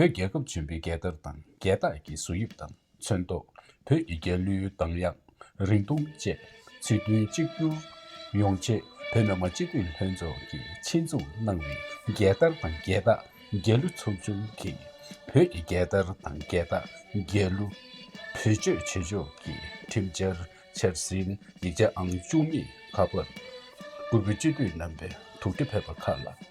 བོད་རྒྱལ་ཁབ་ཆེན་པོའི་རྒྱལ་དར་དང་རྒྱལ་རྟགས་ཀྱི་གཟུགས་དབྱིབས་དང་མཚོན་ཐོག་བོད་ཀྱི་རྒྱལ་གླུའི་གདངས་དབྱངས་རིང་ཐུང་བཅས་ཚིག་དོན་གཅིག་གྱུར་ཡོང་ཆེད་བོད་མི་མང་སྤྱི་འཐུས་ལྷན་ཚོགས་ཀྱིས་ཆེད་འཛུགས་གནང་བའི་རྒྱལ་དར་དང་རྒྱལ་རྟགས་རྒྱལ་གླུ་ཚོགས་ཆུང་གིས་བོད་ཀྱི་རྒྱལ་དར་དང་རྒྱལ་རྟགས་རྒྱལ་གླུ་བེད་སྤྱོད་བྱེད་ཕྱོགས་ཀྱི་ཁྲིམས་འཆར་འཆར་ཟིན་ཡིག་ཆ་ཨང་བཅུ་གཉིས་ཁ་པར་སྐུ་བོད་སྤྱི་འཐུས་རྣམ་པའི་ཐུགས་འཕྲད་ཕེབས་པ་ཁག་ལ།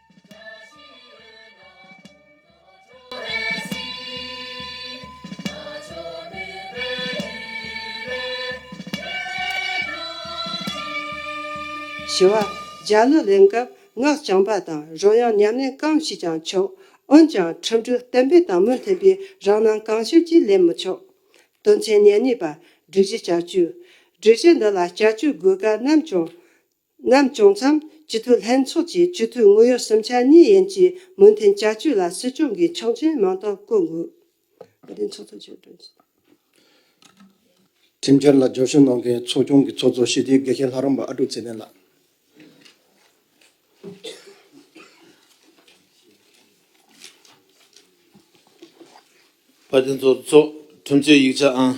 བཞི་བ། འཇའ་ལུས་ལེན་སྐབས་སྔགས་བྱང་པ་དང་རོལ་དབྱངས་ཉམས་ལེན་གང་ཞིག་ཀྱང་ཆོག་འོན་ཀྱང་འཕྲོ་འདུ་གཏན་འབེབས་དང་མུ་མཐུན་པའི་རང་སྣང་གང་ཤར་གྱིས་ལེན་མི་ཆོག། དོན་ཆེན་ཉེར་གཉིས་པ། སྒྲིག་གཞི་བསྐྱར་བཅོས། སྒྲིག་གཞི་འདི་ལ་བསྐྱར་བཅོས་དགོས་གལ་ནམ་བྱུང་རྣམས་བྱུང་མཚམས་སྤྱི་འཐུས་ལྷན་ཚོགས་ཀྱི་སྤྱི་འཐུས་དངོས་ཡོད་སུམ་ཆ་གཉིས་ཡན་གྱི་མོས་མཐུན་བསྐྱར་བཅོས་ལ་སྲིད་སྐྱོང་གིས་ཆོག་མཆན་མང་དག་བཀོད་འགོད། ཁྲིམས་འཆར་ལ་སྦྱོར་བཤུ་གནང་མཁན་ཚོགས་ཆུང་གི་ཚོགས་གཙོ་ཞི་བདེའི་དགེ་རྒན་ལྷ་རམས་པ་ཨ་ཀྲུག་ཚེ་བརྟན་ལགས། པ་དེ་ཚོར་སྩོགས་ཁྲིམས་རྩོད་ཡིག་ཆ་ཨང་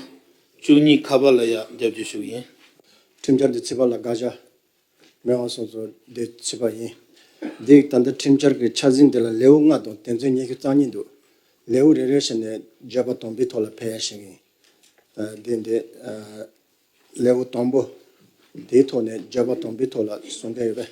བཅུ་གཉིས་ཁ་པར་ལ་ཡར་བརྒྱབ་རྒྱུ་ཞུ་གི་ཡིན། ཁྲིམས་འཆར་འདི་ཚིག་པ་ལ་དགག་བྱ་མེད་དབང་སོགས་ཚོར་འདི་ཚིག་པ་ཡིན། འདིས་ད་ལྟ་ཁྲིམས་འཆར་གི་འཆར་ཟིན་འདི་ལ་ལེའུ་ལྔ་དང་དེ་ཚོའི་སྙན་ཞུ་རྩ་གཉིས་འདུག་ལེའུ་རེ་རེ་ཞིག་ནས་བརྗོད་པ་དང་པོའི་ཐོག་ལ་ཕེབས་ཡ་ཞིག་ཡིན། འདི་འདི། ལེའུ་དང་པོ། དེའི་ཐོག་ནས་བརྗོད་པ་དང་པོའི་ཐོག་ལ་ཟུང་འབྲེལ་ཡོད་པས།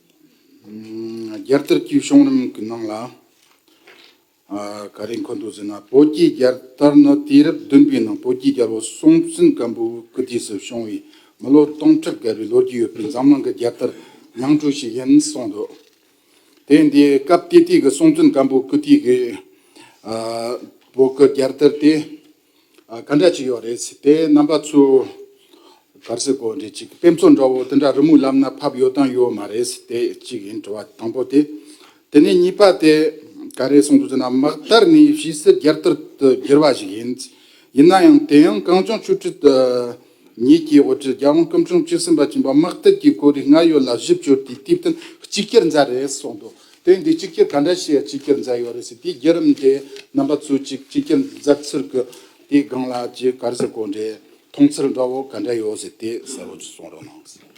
རྒྱལ་དར་གྱི་གཤོང་རིམ་གྱི་ནང་ལ་ག་རེ་འཁོད་འདུག་ཟེར་ན་བོད་ཀྱི་རྒྱལ་དར་ནི་དུས་རབས་བདུན་པའི་ནང་བོད་ཀྱི་རྒྱལ་པོ་སྲོང་བཙན་སྒམ་པོའི་སྐུ་དུས་སུ་བྱུང་བའི་མི་ལོ་སྟོང་ཕྲག་བརྒལ་བའི་ལོ་རྒྱུས་ཡོད་པའི་འཛམ་གླིང་གི་རྒྱལ་དར་ཉིང་བཀྲུ་ཞིག་ཡིན་གསུངས་འདུག་དེ་འདི་སྐབས་དེ་དུས་ཀྱི་སྲོང་བཙན་སྒམ་པོའི་སྐུ་དུས་ཀྱི་བོད་ཀྱི་རྒྱལ་དར་དེ། ག་འདྲ་ཅིག་ཡོད་རེད་ཟེར་ཏེ་རྣམ་པ་ཚོས་གར་སའི་གོ་འབྲེལ་ཅིག་དཔེ་མཚོན་འདྲ་བོ་དེ་འདྲ་རི་མོའི་ལམ་ན་ཕབ་ཡོད་དམ་ཡོད་མ་རེད་ཟེར་ཏེ་གཅིག་ཡིན་དྲི་བ་དང་པོ་དེ། དེ་ནས་གཉིས་པ་དེ་ག་རེ་གསུངས་འདུག་ཟེར་ན་དམག་དར་ནི་ཕྱིས་སུ་རྒྱལ་དར་དུ་བསྒྱུར་བ་ཞིག་ཡིན། ཡིན་ན་ཡང་དེ་ཡང་གངས་ལྗོངས་ཆོས་ཁྲིད། ཉིད་ཀྱིས་འོ་སྤྲུལ་རྒྱལ་དབང་སྐུ་འཁྲུངས་བཅུ་གསུམ་པ་བྱིན་པ་དམག་དེབ་ཀྱི་སྐོར་རིགས་སྔར་ཡོད་ལ་གཞི་བཅོལ་ཏེ་སྟེ་བསྟན་གཅིག་གྱུར་མཛད་རེད་གསུངས་འདུག་དེ་འདི་གཅིག་གྱུར་ག་འདྲ་ཞིག་གཅིག་གྱུར་མཛད་ཡོད་རེད་ཟེར་དེའི་རྒྱུད་རིམ་དེ་རྣམ་པ་ཚུལ་གཅིག་གཅིག་གྱུར་མཛད་ཚུལ་དགོས་དེའི་སྒང་ལ་ཇི་དགར་ཟེར་གོ་འདྲའི་མཐོང་ཚུལ་འདྲ་བོ་ག་འདྲ་ཡོད་ཟེར་དེ་གསལ་བོ་གསུངས་རོགས་གནང།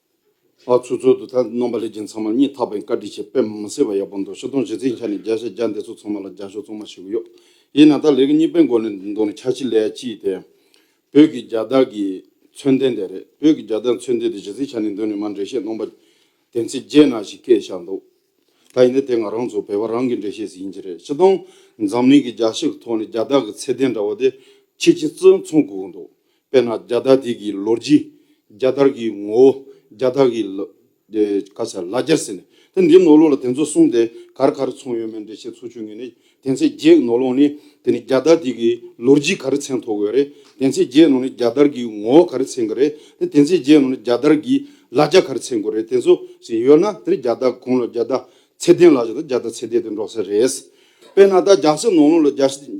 ཨ་ཚུགས་ཚུལ་དུ་ཐལ་རྣམ་པ་ལས་རྒྱན་ཚང་མར་གཉིས་འཐག་པའི་བཀའ་དྲིན་ཆེ་དཔེ་མི་སྲིད་པ་ཡག་པོ་འདུག་ཤོ་སྟོང་བཞི་ཚིག་འཆར་ནས་བརྒྱ་བཤད་བརྒྱ་འདེད་ཚུལ་ཚང་མ་ལ་རྒྱ་ཤོ་གཙང་མ་ཞིག་གཡོག་ཡིན་ན་ད་ལས་ཀ་གཉིས་པའི་མགོ་ནས་འདུག་ན་ཁྱ་ཕྱི་ལས་ཅི་དེ། བོད་ཀྱི་རྒྱ་དར་གྱི་མཚོན་ལྡན་དེ་རེད་བོད་ཀྱི་རྒྱ་དར་མཚོན་ལྡན་དེ་བཞི་ཚིག་འཆར་ནས་འདུག་ནས་མ་འགྲེལ་བཤད་ནོངས་པ། དེ་ཚེ་རྗེས་གནང་ཞིག་སྐད་བཞག་འདུག་ད་ཡིན་ན་དེ་ང་རང་ཚོ་བོད་པ་རང་གི་འགྲེལ་བཤད་ཟིག་ཡིན་གྱི་རེད་ཕྱི་སྟོང་འཛམ་གླིང་གི་རྒྱ་ཞིག་གི་ཐོག་ནས་རྒྱ་དར་གྱི་ཚད་ལྡན་འདྲ་བོ་དེ་ཁྱི་ཁྱི་བཙོན་ཚོང་གུག་འདུག་དཔེར་ན་རྒྱ་དར་དེ་གི་ལོ་རྒྱུས། རྒྱ་དར་གི་ངོ་བོ། རྒྱ་དར་གི། ལ་ཟེར་ལ་རྒྱར་ཟེར་ནས། དེ་འདིའི་ནོར་ལུག་ལ་དེ་ཚོ་གསུངས་ཏེ་གར་གར་ཚོང་ཡོད་མེད་འདྲེ་བཤད་ཚུར་ཆུད་ངེས་ནི། དེ་ཚེ་རྒྱའི་ནོར་ལུག་ནི། དེ་ནི་རྒྱ་དར་དེ་གི་ལོ་རྒྱུས་ག་རེ་ཚན་ཐོ་དགོས་རེད། དེ་ཚེ་རྒྱའི་ནོར་ནི་རྒྱ་དར་གི་ངོ་བོ་ག་རེ་ཚན་གི་རེད། དེ་དེ་ཚེ་རྒྱའི་ནོར་ནི་རྒྱ་དར་གི་ལ་རྒྱ་ག་རེ་ཚན་དགོས་རེད་དེ་ཚོ་ཞིག་ཡོད་ན་དེ་རི་རྒྱ་དར་གུང་ལ་རྒྱ་དར་ཚེ་བརྟན་ལ་ཞེས་དང་རྒྱ་དར་ཚེ་བརྟན་དེ་འགྲོ་ས་རེད། དཔེར་ན་ད་རྒྱ་བཟི་ནོར་ལུག་ལ་རྒྱ་བཟི་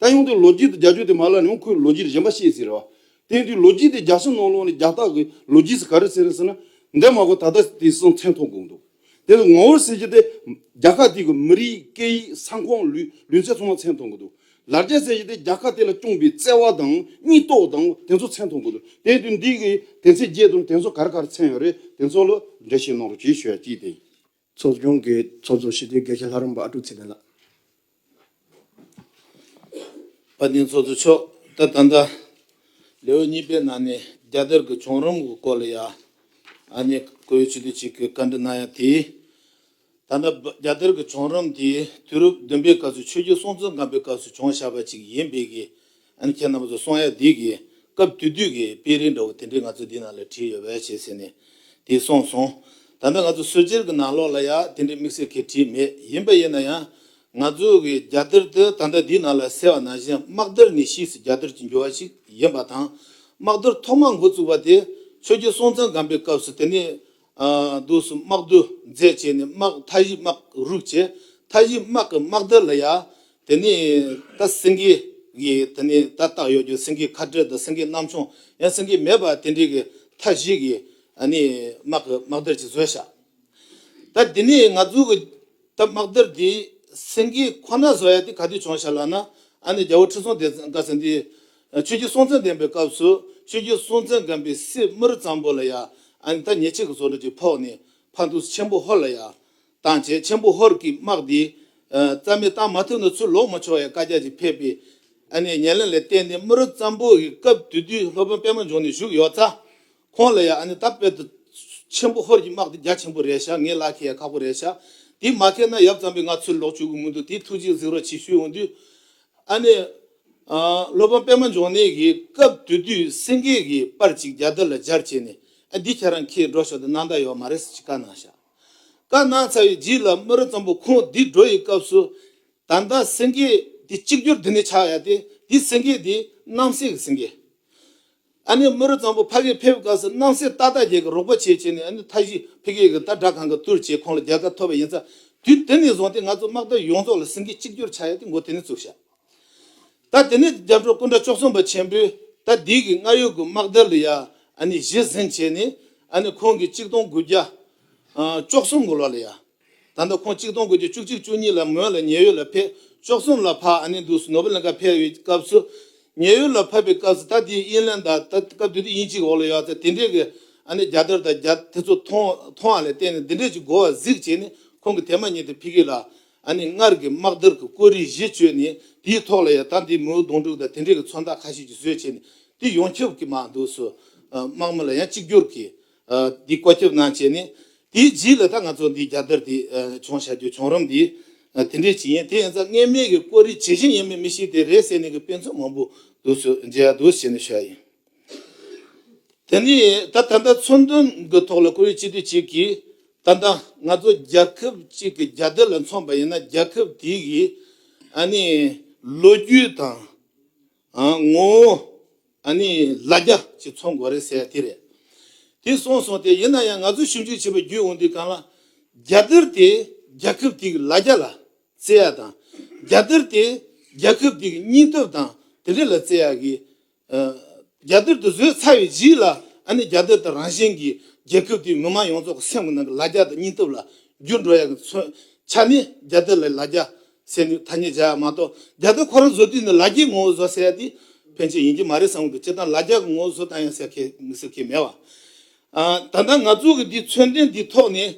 ད་ཡོང་དུས་ལོ་རྒྱུས་དང་རྒྱ་ཆོས་དེ་མ་ལ་ནི་ཡང་ཁོས་ལོ་རྒྱུས་རྗེན་པ་ཤེས་ཟེར་རེད་བ། དེང་དུས་ལོ་རྒྱུས་དེ་རྒྱ་སེང་ནང་ལོག་ནས་རྒྱ་སྟག་གི་ལོ་རྒྱུས་སུ་ག་རེ་ཟེར་རེད་ཟེར་ན། འདས་མ་གོ་ད་ལྟ་དེ་སང་མཚན་ཐོག་འགོང་འདུག་དེ་ལ་ངོ་བོར་ཟེར་གྱི་དེ། རྒྱ་ཁག་དེ་གི་མི་རིགས་སྐད་ཡིག་ས་ཁོངས་ལུས་ལུས་ཚད་ཚང་མ་མཚན་ཐོག་འགོ་འདུག་ལར་རྒྱ་ཟེར་གྱི་དེ་རྒྱ་ཁག་དེ་ལ་སྐྱོང་པའི་བརྩེ་བ་དང་སྙིང་སྟོབས་དང་དེ་ཚོ་མཚན་ཐོག་འགོ་འདུག་དེང་དུས་འདི་གི་དེ་ཚེ་རྒྱས་དང་དེ་ཚོ་ག་རེ་ག་རེ་མཚན་ཡོད་རེད་དེ་ཚོ་ལ་འགྲེལ་བཤད་གནང་རོགས་གྱིས་ཞུ་ཡ་ཅིག་དེ་ཡིན། ཚོགས་ཆུང་གི་ཚོགས་གཙོ་ཞི་བདེའི་དགེ་བཤེས་ལྷ་རམས་པ་ཨ་ཀྲུག་ཚེ་བརྟན་ལགས། བཀའ་བསྟན་ཚོགས་གཙོ་མཆོག་ད་ད་ལྟ་ལེའོ་གཉིས་པའི་ནང་ནས་རྒྱ་དར་གྱི་བྱུང་རིམ་གྱི་སྐོར་ལ་ཡང་ཨ་མྱེ་ཀོ་ཡོ་ཆི་ཏི་ཆིག་གིས་བཀའ་འདྲི་གནང་ཡང་དེས་ད་ལྟ་རྒྱ་དར་གྱི་བྱུང་རིམ་དེ་དུས་རབས་བདུན་པའི་སྐབས་སུ་ཆོས་རྒྱུད་སྲོང་བཙན་སྒམ་པོའི་སྐབས་སུ་བྱུང་བཞག་པ་ཅིག་ཡིན་པས་ཀྱི། ཨ་ནི་ཁྱེད་རྣམ་པ་ཚོ་སོང་ཡ་འདི་གི་སྐབས་དུས་དུས་ཀྱི་དཔེ་རིས་འདྲ་བོ་དེ་འདྲས་ང་ཚོ་འདི་ནང་ལ་བྲིས་ཡོད་བས་ཞེས་ཟེར་ནས་དེ་སོང་སོང། ད་ལྟ་ང་ཚོ་སོལ་སྤྱིར་གྱི་ནང་ལོགས་ལ་ཡང་དེ་འདྲས་དམིགས་བསལ་གྱིས་བྲིས་མེད་ཡིན་པ་ཡིན་ན་ཡང། ང་ཚོ་གི་རྒྱ་གཏེར་དུ་ད་ལྟ་འདི་ནང་ལ་གསལ་བ་ནང་བཞིན་དམག་དར་ནི་ཕྱིས་སུ་རྒྱ་གཏེར་གྱི་འགྱུར་བ་ཞིག་ཡིན་པ་དང། དམག་དར་ཐོག་མར་འགོ་བཙུགས་པ་དེ་ཆོས་རྒྱལ་སྲོང་བཙན་སྒམ་པའི་སྐབས་སུ་དེ་ནི་དུག་གསུམ་དམག་བདུད་རྫས་བྱས་ནས་དམག་མཐའ་བཞི་དམག་རུག་བྱས། མཐའ་བཞི་དམག་གི་དམག་དལ་ལ་ཡ། དེ་ནས་ད་སེང་གེ་གི་དེ་ནས་ད་བཏགས་ཡོད་རྒྱུ་སེང་གེའི་ཁ་སྤྲེལ་དང་སེང་གེའི་གནམ་མཆོང་ཡང་སེང་གེ་མེད་པ་དེ་འདྲས་ཀྱི་མཐའ་བཞི་གི་དམག་གི་དམག་དལ་གྱི་བཟོས་བྱ། ད་དེ་ནས་ང་ཚོ་གི་ད་དམག་དལ་དེ་སེང་གེ་ཁོ་ན་བཟོ་ཡ་དེ་ག་དུས་བྱུང་བྱ་ལ་ན་ཨ་ནི་རྒྱལ་པོ་ཁྲི་སྲོང་ལྡེ་བཀའ་སེང་དེ། ཆོས་རྒྱུད་སྲོང་བཙན་བསྟན་པའི་སྐབས་སུ་ཆོས་རྒྱུད་སྲོང་བཙན་སྒམ་པོའི་སྲས་དམུ་རུ་གཙང་པོ་ལ་ཡ་ཨན་ཐ་ཉེ་ཆེ་གི་ཟོ་འདྲུ་གྱིས་ཕོག་ནས་ཕ་འདུལ་ཆེན་པོ་ཧོར་ལ་ཡ་བཏང་བྱས་ཆེན་པོ་ཧོར་གྱིས་དམག་འདི་རྩ་མེད་བཏང་མ་ཐུབ་ན་ཚུར་ལོག་མི་ཆོག་ཡ་བཀའ་རྒྱ་ཅིག་ཕེབས་པས་ཨ་ནེའི་ཉེར་ལེན་ལས་བརྟེན་ནས་དམུ་རུ་གཙང་པོ་ཡི་སྐབས་དུས་དུས་ལྷོ་བོན་པད་མ་འབྱུང་ནས་བཞུགས་ཡོད་ཚ་ཁོང་ལ་ཡང་ཨ་ནི་ད་དཔལ་དུ་ཆེན་པོ་ཧོར་གྱི་དམག་དེ་རྒྱ་ཆེན་པོ་རེད་ཤག་ངའི་ལག་ཁྱེར་ཡང་ཁག་པོ་རེད་ཤག་དེ་མ་ཁེལ་ན་ཡབ་ཙམ་པས་ང་ཚུར་ལོག་བཅུག་གི་མི་འདུག་དེ་ཐུགས་རྗེས་གཟིགས་རོགས་གྱིས་ཞུས་འོང་དུས། ཨ་ནི། སློབ་དཔོན་པད་མ་འབྱུང་གནས་ཀྱིས་སྐབས་དེ་དུས་སེང་གེ་གི་པར་ཅིག་རྒྱ་དར་ལ་སྦྱར་བྱས་ནས་ཨ་འདི་ཁྱེད་རང་ཁྱེར་འགྲོ་ཤོག་དེ་གནང་ད་ཡོད་མ་རེད་ཟེར་གྱིས་བཀའ་གནང་ཤག་བཀའ་གནང་ཚར་བའི་རྗེས་ལ་སྨི་ར་ཙམ་པོ་ཁོང་འདི་འགྲོ་ཡི་སྐབས་སུ། ད་ལྟ་སེང་གེ་འདི་གཅིག་གྱུར་འདི་ནས་ཆགས་ཡ་སྟེ་འདི་སེང་གེ་འདི་རྣམ་སྲས་ཀྱི་སེང་གེ། ཨ་ནི་རྨོ་རུ་གཙང་པོ་ཕ་གིའི་ཕེབས་སྐབས་སུ་སྣང་སྲིད་ཏག་ཏག་རྒྱལ་གྱི་རོགས་པ་བྱེད་བྱེད་ནས་ཨ་ནི་མཐའ་བཞི་ཕི་གེ་གི་ད་དྲག་ཁང་གི་དུར་བྱས་ཁོང་ལ་རྒྱལ་ཁ་ཐོབ་པ་ཡིན་ཚ་དུས་དེ་ནས་བཟུང་སྟེ་ང་ཚོ་དམག་དར་ཡོངས་རྫོགས་ལ་སེང་གེ་གཅིག་གྱུར་ཆགས་ཡོད་དེ་འགོ་དེ་ནས་བཙུགས་ཤག་ད་དེ་ནས་རྒྱབ་ཁྲོ་སྐུ་འདྲ་ཅོག་ཙུང་པ་ཆེན་པོས་ད་དེའི་གི་སྔ་ཡོད་གི་དམག་དར་ལ་ཡང་ཨ་ནི་གཞི་ཟིན་བྱས་ནས་ཨ་ནི་ཁོང་གི་གཅིག་སྟོང་དགུ་བརྒྱ་ཅོག་གསུམ་གི་ལོ་ལ་ཡང། ད་ལྟ་ཁོང་གཅིག་སྟོང་དགུ་བརྒྱ་བཅུ་གཅིག་བཅུ་གཉིས་ལ་མོན་ལ་ཉེ་ཡོད་ལ་ཕེབས་བཅོ་གསུམ་ལ་ཕ་ཨ་ནེ་འདུག་སུ་ནོ་བྷེལ་གནང་སྐབས་ཕེབས་ཡོད་སྐབས་སུ། ཉེ་ཡོད་ལ་ཕབ་པའི་སྐབས་སུ་ད་དེ་ཡིན་དབྱིན་ལན་ད་ད་སྐབས་དུས་དེ་དབྱིན་ཅིག་འོག་ལ་ཡོད་ཚེ་དེ་འདྲས་ཀྱི་ཨ་ནེ་རྒྱ་དར་དང་རྒྱ་དེ་ཚོ་མཐོང་མཐོང་བ་ལས་གཏན་ནས་འདི་འདྲས་ཀྱི་འགོ་བ་གཟིགས་བྱས་ནས་ཁོང་གི་དེ་མ་ཉིད་དུ་ཕི་གི་ལ་ཨ་ནེ་སྔར་གྱི་དམག་དར་གྱི་བཀོད་རིས་གཞི་བཅོལ་ནས་དེའི་ཐོག་ལ་ཡང་ད་འདི་མོའུ་གདོང་དྲུག་དང་དེ་འདྲས་ཀྱི་མཚོན་རྟགས་ཁ་ཤས་ཀྱིས་བཟོས་བྱས་ནས་དེ་ཡོང་ཁྱབ་ཀྱི་མ་འདུག་སུ་དམག་མི་ལ་ཡང་གཅིག་གྱུར་གྱིས། འདི་བཀོད་སྐྱོབ་གནང་བྱས་ནས་དེའི་རྗེས་ལ་ད་ང་ཚོ་འདི་རྒྱ་དར་དེ་འཁྱོངས་བྱ་རྒྱུ་བྱུང་རུང་འདི་དེ་འདྲས་ཅི་ཡིན་དེ་ཡིན་ཙང་སྔས་མེད་ཀྱི་བཀོད་རིས་ཇི་བཞིན་ཡིན་མིན་མི་ཤེས་དེ་རེད་ཟེར་ནས་ཀྱི་དཔེ་མཚོན་མང་པོ་འདུག་ཚོས་མཇལ་ཡག་འདུག་བྱས་ནས་ཤོད་ཡིན། དེ་ནས་ད་ད་ལྟ་མཚོན་དོན་གྱི་ཐོག་ལ་བཀོད་རིས་གཅིག་དུས་གཅིག་གིས་ད་ལྟ་ང་ཚོ་རྒྱལ་ཁབ་གཅིག་གི་རྒྱ་དར་ལ་མཚོན་པ་ཡིན་ན་རྒྱལ་ཁབ་དེའི་གི་ཨ་ནི་ལོ་རྒྱུས་དང། ངོ་བོ། ཨ་ནི་ལ་རྒྱ་ཅིག་འཚོ་མགོ་རེད་ཟེར་ཡ་དེ་རེད། དེ་སོང་སོང་སྟེ་ཡིན་ན་ཡང་ང་ཚོ་ཞིབ་འཇུག་བྱེད་པའི་རྒྱུས་འོང་དུས་གང་ལ། རྒྱ་གར་དེ་རྒྱལ་ཁབ་དེའི་ལ་རྒྱ་ལ་བརྩེ་ཡ་དང། རྒྱ་དར་དེ་རྒྱལ་ཁབ་དེའི་སྙིང་སྟོབས་དང་དེ་འདྲ་ལ་བརྩེ་ཡ་གི། རྒྱ་དར་དེ་བཟོས་ཚར་བའི་རྗེས་ལ་ཨ་ནི་རྒྱ་དར་དེ་རང་བཞིན་གྱིས་རྒྱལ་ཁབ་དེའི་མི་དམངས་ཡོངས་རྫོགས་ཀྱི་སེམས་ནང་གི་ལ་རྒྱ་དང་སྙིང་སྟོབས་ལ་འགྱུར་འགྲོ་ཡ་གི་མཚོན་ཆ་ནི་རྒྱ་དར་ལ་ལ་རྒྱ་སེམས་ནུས་ཐ་སྙད་བྱས་པ་མ་གཏོགས་རྒྱ་དོན་ཁོ་རང་བཟོ་དུས་ནི་ལ་རྒྱའི་ངོ་བོ་བཟོ་ཟེར་ཡ་དེ་ཕན་ཆད་ཡིན་གྱི་མ་རེད་བསམ་གི་སྤྱིར་བཏང་ལ་རྒྱ་གི་ངོ་བོ་བཟོ་བཏང་ཡ་ཟེར་མཁན་མི་ཟེར་མཁན་མེད་བ། ད་ལྟ་ང་ཚོ་གི་འདི་མཚོན་དོན་འདི་ཐོག་ནས་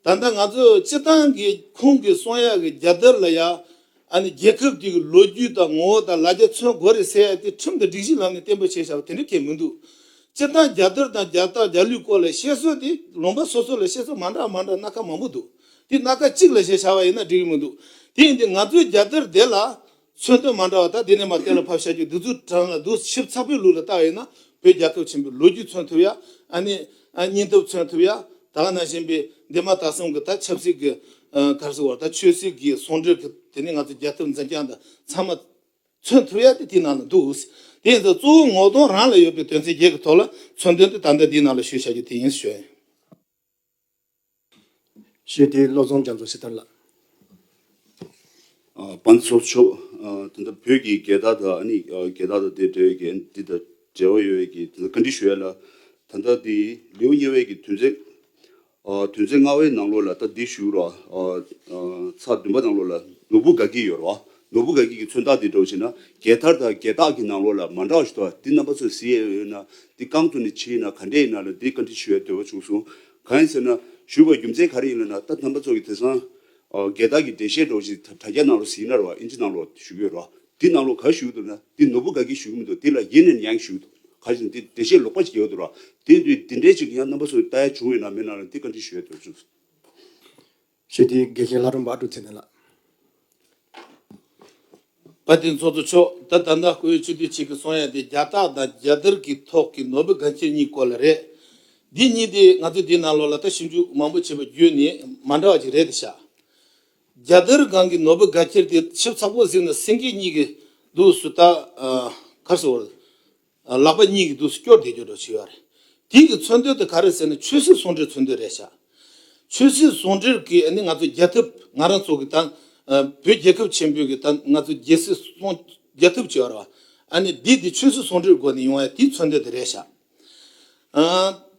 ད་ལྟ་ང་ཚོ་སྤྱིར་བཏང་གི་ཁོང་གི་གསུང་ཡ་གི་རྒྱ་དར་ལ་ཡ་ཨ་ནི་རྒྱལ་ཁབ་དེ་གི་ལོ་རྒྱུས་དང་ངོ་བོ་དང་ལ་རྒྱ་མཚོན་དགོས་རེད་ཟེར་ཡ་དེ་ཁྲིམས་དང་སྒྲིག་གཞིའི་ལམ་ནས་བརྟན་པོ་བྱས་བཞག་པ་དེ་འདྲ་ཁས་མི་འདུག་སྤྱིར་བཏང་རྒྱ་དར་དང་རྒྱ་རྟགས་རྒྱ་ལུས་སྐོར་ལ་བཤད་སྲོལ་དེ་ལུང་པ་སོ་སོ་ལ་བཤད་སྲོལ་མ་འདྲ་མ་འདྲ་སྣ་ཁ་མང་པོ་འདུག། འདི་སྣ་ཁ་གཅིག་ལ་ཞེས་བྱ་བ་ཡིན་ན་འགྲིག་གི་མི་འདུག་དེ་ཡིན་དུས་ང་ཚོའི་རྒྱབ་རྟེར་བསྡད་ལ། མཚོན་དོན་མ་འདྲ་བ་དག་འདི་ནས་མར་གཏན་ལ་ཕབ་བཞག་རྒྱུ་བདུད་རྩུབ་དྲངས་ལ་བདུད་ཞིབ་ཚགས་པོའི་ལུགས་ལ་བལྟ་བ་ཡིན་ན་བོད་རྒྱལ་ཁབ་ཆེན་པོའི་ལོ་རྒྱུས་མཚོན་ཐུབ་ཡ། ཨ་ནི། སྙིང་སྟོབས་མཚོན་ཐུབ་ཡ། དག་ན་བཞིན་པའི་འདས་མ་ད་གསུམ་གྱི་དག་ཆབ་སྲིད་ཀྱི་གར་སོང་བར་དག་ཆོས་སྲིད་ཀྱི་ཟུང་འབྲེལ་གྱི་དེ་ནས་ང་ཚོའི་རྒྱལ་ཁབ་འཛིན་རྐྱང་དག་ཚང་མ་མཚོན་ཐུབ་ཡ་དེ་དེའི་ནང་ལ་འདུག་དེ་ཡིན་ཟེར་གཙོ་བོ་ངོ་གདོང་རང་ལ་ཡོད་པའི་དོན་ཚན་བརྒྱད་ཀྱི་ཐོག་ལ་མཚོན་དོན་དེ་ད་ལྟ་འདིའི་ནང་ལ་ཞུས་བཞག་རྒྱུ་དེ་ཡིན་ཞུ་ཡ་ཡིན། ཞེས་དེའི་བློ་བཟང་རྒྱ་མཚོ་སྲི་ཐར་ལགས། དཔའ་མཚོ་མཆོག་དེ་འདྲ་བོད་ཀྱི་རྒྱལ་དར་དང་ཨ་ནི་རྒྱལ་དར་དང་དེ་འབྲེལ་བའི་འགན་འདི་དང་འབྲེལ་བ་ཡོད་བས་ཀྱི་བཀའ་འདྲི་ཞུ་ཡ་ལ། ད་ལྟ་དེ་ལེའུ་གཉིས་བས་ཀྱི་དུས་མཚན། དུས་མཚན་ལྔ་བའི་ནང་ལོགས་ལ་ད་འདི་ཞུ་རོགས། ཚགས་བདུན་པ་ནང་ལོགས་ལ་ནོར་བུ་དགའ་སྐྱིད་ཡོད་རོགས། ནོར་བུ་ག་གིས་ཀྱི་མཚོན་རྟགས་འདི་སྒྲོག་བྱེད་ན་རྒྱལ་ཐར་དང་རྒྱལ་རྟགས་ཀྱི་ནང་ལོགས་ལ་མ་འདྲ་བ་ཞིག་འདུག་ཨ་འདི་རྣམ་པ་ཚོས་གཟིགས་ཡས་ཡོད་ན་འདི་རྐང་དུ་ནས་ཕྱིས་ན་ག་འདྲས་ཡིན་ན་ལ་འདི་བཀའ་འདྲི་ཞུ་ཡས་འདོད་པ་བྱུང་སོང་གང་ཡིན་ཟེར་ན་ཞུ་བའི་རྒྱུ་མཚན་ག་རེ་ཡིན་ལ་ན་ད་རྣམ་པ་ཚོ་གི་དེ་སང་རྒྱལ་རྟགས་ཀྱི་འགྲེལ་བཤད་སྒྲོག་བྱེད་དེ་དྲ་རྒྱ་ནང་ལོགས་གཟིགས་ན་ར་བ་ཨིན་ཇི་ནང་ལོགས་ཞུ་གི་ཡོད་ར་འདི་ནང་ལོགས་ག་བཞུགས་འདུག་ན་འདི་ནོར་བུ་ག་གིས་བཞུགས་མི་འདུག་འདི་ལ་ཡེ་ནས་ཡང་བཞུགས་འདུག་གང་ཞིག་འདི་འགྲེལ་བཤད་ལོག་པ་ཞིག་ཡོད་འདུག་ར་འདི་འདི་འདྲས་ཅིག་ཡང་རྣམ་པ་ཚོས་ལྟ་ཡས་བྱུང་ཡོད་ན་མེད་ན་ལ་འདི་བཀའ་འདྲི་ཞུ་ཡས་འདོད་པ་བྱུང་སོང། ཞེས་དེའི་དགེ་བཤེས་ལྷ་སྒྲོན་འབའ་གྲུ་ཚེ་བརྟན་ལགས། བཀའ་བསྟན་ཚོགས་གཙོ་མཆོག་ད་ལྟ་ཟླ་དགུ་བའི་ཆུ་ཚོད་གཅིག་གི་སོང་ཡ་དེ་རྒྱ་སྟག་དང་རྒྱ་དར་གྱི་ཐོག་གི་ནོར་བུ་དགའ་འཁྱིལ་གཉིས་སྐོར་ལ་རེད། འདི་གཉིས་དེ་ང་ཚོས་འདིའི་ནང་ལོགས་ལ་ལྟ་ཞིབ་འཇུག་མང་པོ་བྱས་པ་བརྒྱུད་ནས་མ་འདྲ་བ་ཅིག་རེད་དེ་ཤག། རྒྱ་དར་སྒང་གི་ནོར་བུ་དགའ་འཁྱིལ་དེ་ཞིབ་ཚགས་པོ་གཟིགས་ན་སེང་གེ་གཉིས་ཀྱི་འདུག་སུ་ད་གར་སོང་བར་ལག་པ་གཉིས་ཀྱིས་དུས་སུ་སྐྱོར་དེ་སྐྱོར་དྲག་ཆུ་ཡོད་རེད། དེའི་གི་མཚོན་དོན་དེ་ག་རེད་ཟེར་ན་ཆོས་སྲིད་ཟུང་འབྲེལ་མཚོན་དོན་རེད་བྱ། ཆོས་སྲིད་ཟུང་འབྲེལ་གྱིས་ནི་ང་ཚོ་རྒྱལ་ཐབས་ང་རང་ཚོ་གི་ད་བོད་རྒྱལ་ཁབ་ཆེན་པོའི་གི་ད་ང་ཚོ་རྒྱལ་སྲིད་སྲུང་རྒྱལ་ཐབས་བྱེད་བར་བ་ཨ་ནི་འདི་དེ་ཆོས་སྲིད་ཟུང་འབྲེལ་སྒོ་ནས་ཡོང་བ་ཡ་དེའི་མཚོན་དོན་དེ་རེད་བྱ།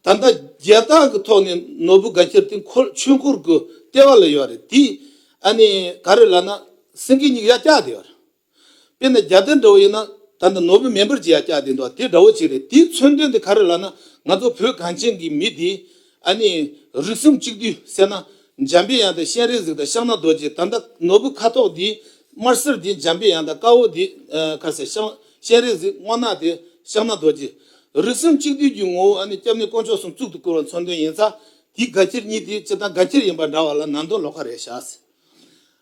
ད་ལྟ་རྒྱལ་རྟགས་གི་ཐོག་ནས་ནོར་བུ་དགའ་འཁྱེར་དེ་འཁོར་ཆོས་འཁོར་གི་ལྟེ་བ་ལ་ཡོད་རེད་དེ་ཨ་ནི་ག་རེད་ལ་ན་སེང་གེ་གཉིས་ཀྱི་ཡ་བཀྱགས་དེ་ཡོད་རེད། དཔེར་ན་རྒྱ་དེ་འདྲ་བོ་ཡིན་ན་ད་ནི་ནོར་བུ་མེ་འབར་གྱིས་ཡང་བསྐྱལ་བསྡད་འདུག་དེ་འདྲ་བོ་ཅིག་རེད་དེའི་མཚོན་དོན་དེ་ག་རེ་ལགས་ན་ང་ཚོ་བོད་གངས་ཅན་གྱི་མི་དེ་ཨ་ནི་རིགས་སེམས་གཅིག་བསྡུས་བསད་ན་འཇམ་པའི་དབྱངས་དང་གཤེན་རིག་གཟིགས་དང་ཤངས་ནག་རྡོ་རྗེ་ད་ལྟ་ནོར་བུ་ཁ་དོག་དེ་དམར་སེར་དེ་འཇམ་པའི་དབྱངས་དང་དཀར་བོ་དེ་ཁ་ཟེར་ཤངས་གཤེན་རིག་གཟིགས་སྔོ་ནག་དེ་ཤངས་ནག་རྡོ་རྗེ། རིགས་སེམས་གཅིག་བསྡུས་ཀྱི་ངོ་བོ་ཨ་ནི་སྐྱབས་གནས་དཀོན་མཆོག་གསུམ་གཙུག་ཏུ་བཀུར་བ་མཚོན་དོན་ཡིན་ཙང་དེའི་དགའ་ཁྱེར་གཉིས་དེ་སྤྱིར་བཏང་དགའ་ཁྱེར་ཡིན་པ་འདྲ་བ་ལ་ནང་དོན་ལོགས་ཀ་རེད་ཤག་ཟེར།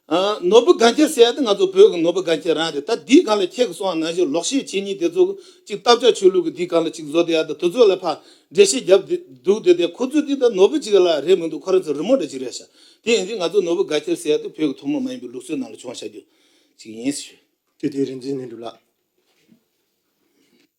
ནོར་བུ་སྒང་ཁྱི་ཟེར་ཡ་དེ་ང་ཚོ་བོད་ཀྱི་ནོར་བུ་སྒང་ཁྱི་རང་རེད་ད་འདིའི་སྒང་ལ་ཁྱེད་ཀྱི་སོང་ང་གཞི་ལོག་ཤེས་བྱེད་གཉིས་དེ་ཚོ་གཅིག་སྟབས་ཆག་ཆོས་ལུགས་ཀྱི་འདིའི་སྒང་ལ་གཅིག་བཟོ་དེ་ཡ་ད་དུ་ཚོད་ལ་ཕ་འདྲེ་ཤེས་རྒྱབ་འདུག་དེ་དེ་ཁོ་ཚོ་འདི་ད་ནོར་བུ་གཅིག་ལ་རེད་མི་འདུག་ཁོ་རང་ཚོ་རི་མོ་འདྲ་གཅིག་རེད་ཤག་དེ་ཡིན་ཚེ་ང་ཚོ་ནོར་བུ་སྒང་ཁྱི་ཟེར་ཡ་དེ་བོད་ཀྱི་ཐུང་མོ་མ་ཡིན་པའི་ལུགས་སྲོལ་ནང་ལ་བྱུང་ཤག་རྒྱུ་གཅིག་ཡིན། དེ་དེ་རིན་ཆེན་ནས་འགྲུབ་ལགས།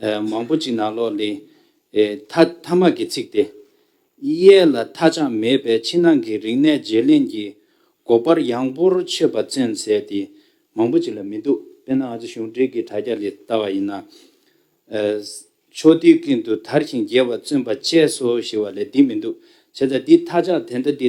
མང་པོ་ཅིག་ནང་ལོགས་ལས། མཐའ་མ་གི་ཚིག་སྟེ། གཡས་ལ་མཐའ་ཅང་མེད་པའི་ཕྱི་ནང་གི་རིག་གནས་བརྗེ་ལེན་གྱི་སྒོ་འཕར་ཡངས་པོར་ཆོད་པ་ཅན་ཟད་དེ་མང་པོ་ཅིག་ལ་མི་འདུག་དཔེར་ན་ང་ཚོ་གཞུང་འབྲེལ་གྱི་དྲ་རྒྱ་ལས་བལྟ་བ་ཡིན་ན། ཕྱོགས་དུས་ཀུན་ཏུ་དར་ཞིང་རྒྱས་པར་བརྩོན་པ་བཅས་སོ་ཞེས་བ་ལས་འདི་མི་འདུག་བྱས་ཙང་འདི་མཐའ་ཅག་དེ་འདྲ་འདི་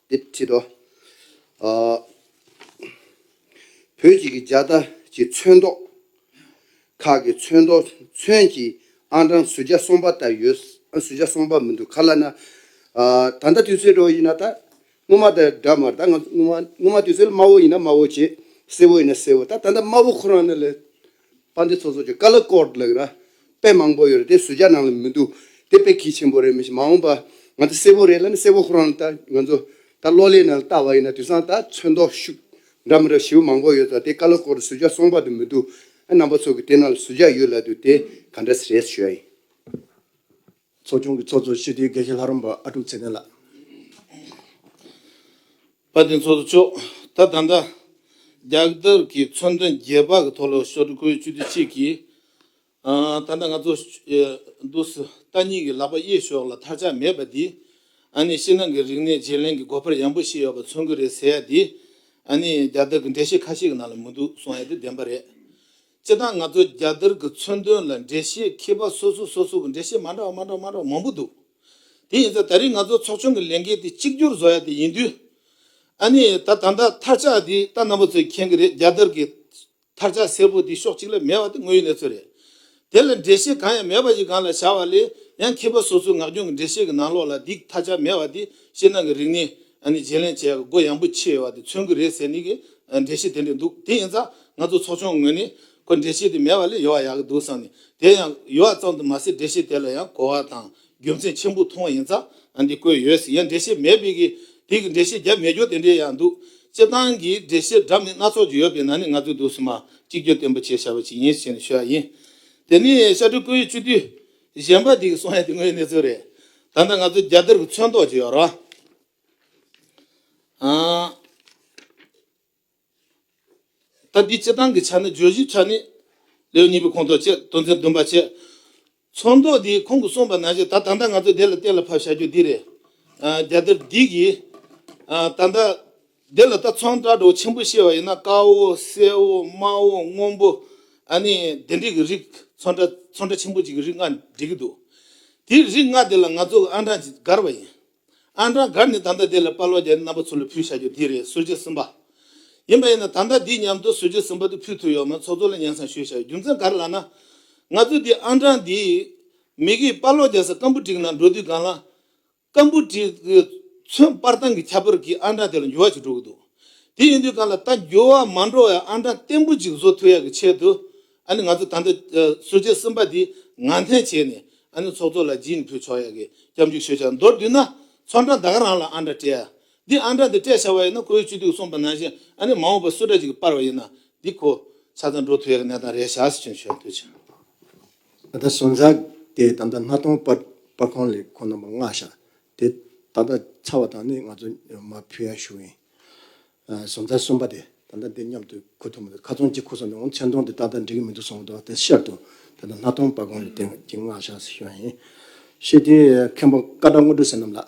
འདི་བྲིས་འདུག། བོད་ཅིག་གི་རྒྱ་དར་གྱི་མཚོན་མདོག། ཁག་གི་མཚོན་མདོག་མཚོན་གྱི་ཨང་གྲངས་ཟུར་བརྒྱ་སོང་པ་ལྟར་ཡོད། ཟུར་བརྒྱ་སོང་པ་མི་འདུག་ག་ལ་ན། ད་ལྟ་དུས་ཚོད་དྲོ་ཡིན་ན་ད། སྔོན་མ་དང་འདྲ་མར་ད། སྔོན་མ་དུས་ཚོད་དམའ་བོ་ཡིན་ན་དམའ་བོ་བྱེད། སེར་བོ་ཡིན་ན་སེར་བོ་ད། ད་ལྟ་དམའ་བོ་ཁོ་རང་ནི་ལས། པ་འདི་ཚོ་ཚོ་ཆུ་ཀ་ལ་ཀོར་ལགས་ར་དཔེ་མང་པོ་ཡོད་རེད་དེ་སུ་ཇག་ནང་ལ་མི་འདུག་དེ་དཔེ་གལ་ཆེན་པོ་རེད་མི་ཤེས་མ་འོངས་པ་ང་ཚོ་སེར་བོ་རེད་ལ་ནི་སེར་བོ་ཁོ་རང་ལ་ལྟ་ང་ཚོ་ད་གློ་ལེ་ནང་ལ་ལྟ་བ་ཡིན་ན་དུས་སང་ད་ཚོད་མདོག་ཤུགས་འདྲ་མི་འདྲ་བྱིས་པོ་མང་པོ་ཡོད་ད་དེ་ཀ་ལ་ཀོར་དུ་སུ་ཇག་སོང་པ་དུ་མི་འདུག་ཨ་རྣམ་པ་ཚོ་གི་དེ་ནང་ལ་སུ་ཇག་ཡོད་ལ་དུ་དེ་ག་འདྲ་སེ་རེད་ཟེར་ཞོའི། ཚོགས་ཆུང་གི་ཚོགས་གཙོ་ཤེས་རིག་དགེ་བཤེས་ལྷ་རམས་པ་ཨ་ཀྲུག་ཚེ་བརྟན་ལགས། བཀའ་དྲིན་ཚོགས་གཙོ་མཆོག་ད་ད་ལྟ་རྒྱག་དར་གྱི་མཚོན་དོན་རྒྱས་པ་གི་ཐོག་ལོ་ཤོར་གོའི་བཅུ་དུས་གཅིག་གི་ད་ལྟ་ང་ཚོ་འདུག་སི་ཏཱ་གཉིས་གི་ལག་པ་གཡས་ཞོག་ལ་ཐར་ཆག་མེད་པ་འདི་ཨ་ནི་ཤི་ནང་གི་རིག་གནས་བརྗེ་ལེན་གི་སྒོ་འཕར་ཡངས་པོ་ཞིག་ཡོད་པ་མཚོན་གི་རེད་ཟེར་ཡ་འདི་ཨ་ནི་རྒྱག་དར་གི་འགྲེལ་བཤད་ཁ་ཤས་གི་ནང་ལ་མི་འདུག་གསུང་ཡ་དེ་བདེན་པ་རེད། སྤྱིར་བཏང་ང་ཚོ་རྒྱ་དར་གྱི་མཚོན་དོན་ལ་འགྲེལ་བཤད་མཁས་པ་སོ་སོ་སོ་སོ་གྱི་འགྲེལ་བཤད་མ་འདྲ་བ་མ་འདྲ་བ་མ་འདྲ་བ་མང་པོ་འདུག་དེ་ཡིན་ཚེ་ད་རིང་ང་ཚོ་ཚོགས་ཆུང་གི་ལས་འགན་དེ་གཅིག་གྱུར་བཟོ་ཡ་དེ་ཡིན་དུས། ཨ་ནི་ད་ད་ལྟ་ཐར་ཆགས་དེ་ལྟ་ནང་པ་ཚོས་མཁྱེན་གྱི་རེད་རྒྱ་དར་གྱི་ཐར་ཆགས་སེར་པོ་དེ་ཕྱོགས་གཅིག་ལ་མེད་བ་དེ་དངོས་ཡོད་གནས་ཚུལ་རེད། དེ་ལ་འགྲེལ་བཤད་གང་ཡང་མེད་པ་ཞིག་གང་ལ་བཞག་བ་ལས་ཡང་མཁས་པ་སོ་སོའི་ངག་རྒྱུན་གྱི་འགྲེལ་བཤད་ཀྱི་ནང་ལོགས་ལ་དེའི་ཐར་ཆགས་མེད་བ་དེ་བཤད་སྣང་གི་རིག་གནས་ཨ་ནི་བརྗེ་ལེན་བྱས་སྒོ་ཡངས་པོ་ཕྱེས་བ་དེ་མཚོན་གྱི་རེད་ཟེར་ནི་གི་འགྲེལ་བཤད་དེ་འདྲས་འདུག་དེ་ཡིན་ཙང་ང་ཚོ་ཚོགས་ཆུང་ངོས་ནས་ཁོ་འགྲེལ་བཤད་དེ་མེད་པ་ལས་ཡོད་བ་ཡག་གི་འདུག་བསམ་ནས་དེ་ཡང་ཡོད་བ་ཙམ་དུ་མ་ཟད་འགྲེལ་བཤད་དེ་ལ་ཡང་གོ་བ་དང་རྒྱུ་མཚན་ཆེན་པོ་མཐོང་བ་ཡིན་ཙང་འདི་བཀོད་ཡོད་ཟེར་ཡང་འགྲེལ་བཤད་མེད་པས་གི་དེ་གི་འགྲེལ་བཤད་རྒྱབ་མེད་སྐྱོར་དེ་འདྲས་ཡང་འདུག་སྤྱིར་བཏང་གི་འགྲེལ་བཤད་འདྲ་མིན་སྣ་ཚོགས་ཀྱི་ཡོད་པའི་ནང་ནས་ང་ཚོས་འདུག་བསམ་མ་གཅིག་གྱུར་བརྟན་པོ་བྱས་བཞག་པ་ཞིག་ཡིན་ཞེས་ནས་ཤོད་ཡ་ཡིན། དེ་ནི་ཤར་སྤྲུལ་སྐུ་ཡི་སྤྱི་འཐུས། གཞན་པ་འདིའི་གསུང་ཡང་དེ་སྔོན་གནས་ཚུལ་རེད། ད་ལྟ་ང་ཚོ་རྒྱ་གཏེར་གྱི་མཚོན་ཐོག་ཅིག་ཡོད་ར་ཨ། ད་འདི་སྤྱི་སྟངས་ཀྱི་ཆ་ནས་བརྗོད་གཞིའི་ཆ་ནས། ལེའུ་གཉིས་པའི་ཁོངས་གཏོགས་བཅས་དོན་ཚན་བདུན་པ་བཅས། མཚོན་ཐོག་འདིའི་ཁོངས་ཀྱི་གསུངས་པ་ནང་བཞིན་ད་ད་ལྟ་ང་ཚོས་དེ་ལ་གཏན་ལ་ཕབ་བྱ་རྒྱུ་འདི་རེད། རྒྱ་གཏེར་འདི་གིས། ད་ལྟ། འདི་ལ་ལྟ་ཚང་སྐྲ་གྲོགས་ཆེན་པོ་བཤད་པ་ཡིན་ན་དཀར་བོ་སེར་བོ་དམར་བོ་སྔོན་པོ་ཨ་ནི་དེ་འདྲས་ཀྱི་རིགས་ཚོན་སྐྲ་ཚོན་སྐྲ་ཆེན་པོ་གཅིག་གི་རིགས་ལྔ་འབྲི་གི་འདུག་དེ་རིགས་ལྔ་དེ་ལ་ང་ཚོ་གི་ཨང་གྲངས་ཀྱི་འགར་བ་ཡིན་ཨང་གྲངས་འགར་ནི་ད་ལྟ་དེ་ལ་དཔའ་བློ་རྒྱ་ནི་རྣམ་པ་ཚུར་ལ་ཕུལ་བྱ་རྒྱུ་འདི་རེད་ཟུར་གྱི་ཟིན་པ་ཡིན་པ་ཡིན་ན་ད་ལྟ་འདི་མཉམ་དུ་ཟུར་གྱི་ཟིན་པ་དེ་ཕུལ་ཐུབ་ཡོད་མེད་ཚོགས་གཙོ་ལ་སྙན་གསང་ཞུས་བྱ་རྒྱུ་མཚན་ག་རེ་ལགས་ན་ང་ཚོས་འདི་ཨང་གྲངས་འདིའི་མིག་གིས་དཔའ་བློ་རྒྱ་ས་སྐམ་པོ་བསྒྲིགས་ན་འགྲོ་དུས་སྒང་ལ་སྐམ་པོ་ཏི་མཚོན་དཔར་ཐང་གི་ཁྱད་པར་གྱིས་ཨ་འབྲང་དེ་ལ་འགྱུར་བ་ཅིག་འགྲོ་གི་འདུག་དེ་ཡིན་དུས་གང་ལ་ད་འགྱུར་བ་མ་འགྲོ་བའི་ཨ་འབྲང་བརྟན་པོ་ཅིག་བཟོ་ཐུབ་ཡག་གི་ཆེད་དུ་ཨ་ནི་ང་ཚོ་ད་ལྟ་ཟུར་བཅད་གསུམ་པ་འདི་ངང་འཐེན་བྱས་ནས་ཨ་ནི་ཚོགས་གཙོ་ལ་སྦྱིན་ནས་ཕུལ་ཆོག་ཡག་གི་སྐྱབས་འཇུག་ཞུ་བྱ་མདོར་བསྡུས་ན་ཚོགས་འབྲང་ད་ག་རང་ལ་ཨ་འབྲང་སྤྲད་ཡ་འདི་ཨ་འབྲང་འདི་སྤྲད་བྱ་བ་ཡིན་ན་ཁོ་བོའི་བཅུད་སྡུག་གསུངས་པ་ནང་བཞིན་ཨ་ནི་མ་འོངས་པར་སུ་འདྲ་ཅིག་གིས་དཔར་བ་ཡིན་ན་འདི་ཁོ་ཆ་ཚང་འགྲོ་ཐུབ་ཡག་གི་གནས་སྟངས་རེད་བཞག་ཟེར་ཆོད་ཆོད་ཆོད། ད་ལྟ་བཟོ་འཛག་དེ་དམ་བཏགས་སྣ་སྟོང་སྤར་སྤར་ཁོང་ལས་ཁོ་རྣམ་པ་མངག་བཞག་དེ་ད་ལྟ་ཚར་བ་དང་ནི་ང་ཚོ་མ་ཕུལ་ཡ་ཞུ་ཡིན། བཟོ་འཛག་གསུམ་པ་དེ་ད་ལྟ་འདི་མཉམ་དུ་ཁུར་ཐུབ་མི་འདུག་ཁ་ཚོན་གཅིག་ཁུར་སོང་དེ་འོང་མཚན་མཐོང་དེ་ཏག་ཏག་འགྲིག་གི་མི་འདུག་གསུངས་འདུག་དེ་ཤར་དུ་ད་ལྟ་སྣ་སྟོང་སྤར་ཁོང་ལས་དེ་ཀྱི་མངག་བཞག་ཟེར་ཞུ་ཡ་ཡིན། ཤེས་ལྡན་མཁན་པོ་བཀའ་གྲགས་དངོས་གྲུབ་ཟེར་རྣམས་ལགས།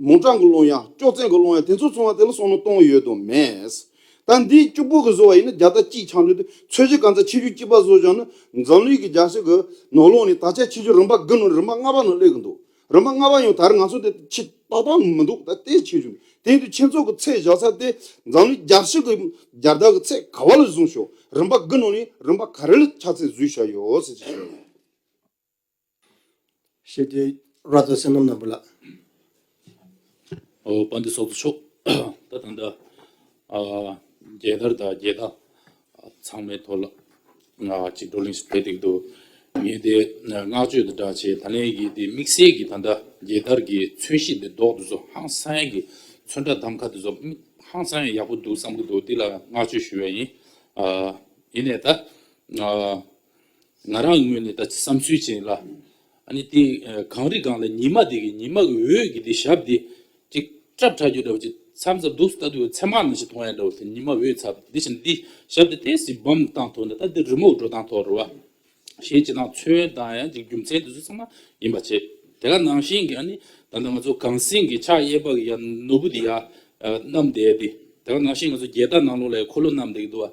མོ་བྲང་གི་ཀློང་ཡངས་ཅོག་ཙེ་གི་ཀློང་ཡངས་དེ་ཚོ་ཚང་བ་དེ་ལ་སོང་ན་སྟོང་ཡོད་དུ་མེད། ད་འདིའི་སྐྱུག་པོ་གི་བཟོ་བ་ཡིན་ན་རྒྱ་སྟག་གཅིག་འཕྱང་འདྲུད་དེ་ཚོས་གཞི་གང་ཚ་ཆེ་ཆུང་སྐྱིད་པ་བཟོ་བཞག་ན་འཛམ་གླིང་གི་རྒྱ་ཤེལ་གི་ནོར་ལོངས་ནི་ད་ཆ་ཆེ་ཆུང་རིམ་པ་དགུ་ནང་རིམ་པ་ལྔ་པ་ནང་སླེབས་གི་འདུག་རིམ་པ་ལྔ་པ་ཡང་ད་རེས་ང་ཚོ་དེ་ཆེ་ཏོག་ཏོག་མི་འདུག་ད་ལྟའི་ཆེ་ཆུང་དེ་འདུག་ཁྱེད་ཚོ་གི་ཚེ་བཞག་ཚར་ཏེ་འཛམ་གླིང་རྒྱ་ཤེལ་གི་རྒྱ་སྟག་གི་ཚེ་ག་བ་ལ་བཟུང་ཤོག་རིམ་པ་དགུ་ནང་ནས་རིམ་པ་ག་རེ་ལ་ཆ་ཚད་བཟོས་བཞག་ཡོད་ཟེར་གྱི་བཤད། ཤེས་བྱའི་རྭ་ཚོགས་བསོད་ནམས་ནོར་བུ་ལགས། ཨོ་བ་འདི་སོགས་སུ་ཕྱོགས་ད་ད་འདྲ། རྒྱལ་དར་དང་རྒྱལ་ཁ་ཚང་མའི་ཐོག་ལ། གཅིག་བགྲོ་གླེང་ཞིག་བྱས་འདུག་འདུག་ངས་དེ་བསྔགས་བརྗོད་དང་སྦྲགས་བྱས་ད་ལན་གྱི་དེ་དམིགས་བསལ་གྱི་ད་ལྟ་རྒྱལ་དར་གྱི་མཚོན་གཞི་དེ་འདོགས་དུ་སོང་ཧང་སངས་གི་མཚོན་དགྲ་དམ་ཁ་དེ་སོགས་ཧང་སངས་ཡག་པོ་འདུག་བསམ་གྱི་འདུག་དེ་ལ་བསྔགས་བརྗོད་ཞུ་བ་ཡིན། ཡིན་ནས་ད། ང་རང་ངོས་ནས་ད་ཆ་བསམ་ཚུལ་ཅན་ལ། ཨ་ནི་དེ་གངས་རི་སྒང་ལ་ཉི་མ་དེ་གི་ཉི་མ་གི་འོད་ཀྱི་དེ་ཞབས་དེ། ཅིག་སྐྲབ་ཁྲ་རྒྱུ་འདྲ་བ་ཅིག་མཚམས་མཚམས་སྡུག་སུ་ལྟ་འདུག་མཚན་མ་ནང་བཞིན་མཐོང་ཡ་འདྲ་བ་དེ་ཉི་མ་འོད་ཚ་བ་དེ་བཞིན་དེ་ཞབས་དེ་ལྟས་སི་བམ་བཏང་ཐོག་ནས་ད་དེ་རི་མོ་འགྲོ་སྟངས་ཐོག་རུ་བ། ཞེས་ཅི་དང་མཚོན་དང་ཡང་ཅིག་རྒྱུ་མཚན་དེ་ཚོ་ཚང་མ་ཡིན་པ་བྱས། དེ་ག་ནང་བཞིན་གི་ཨ་ནི་ད་ལྟ་ང་ཚོ་གངས་སེང་གི་ཕྱག་གཡས་པ་གི་ཡ་ནོར་བུ་དེ་ཡ། གནམ་དེ་ཡ་དེ། དེ་ག་ནང་བཞིན་ང་ཚོ་རྒྱལ་དར་ནང་ལོགས་ལ་ཡ་འཁོར་ལོ་གནམ་དེ་གི་འདུག་བ།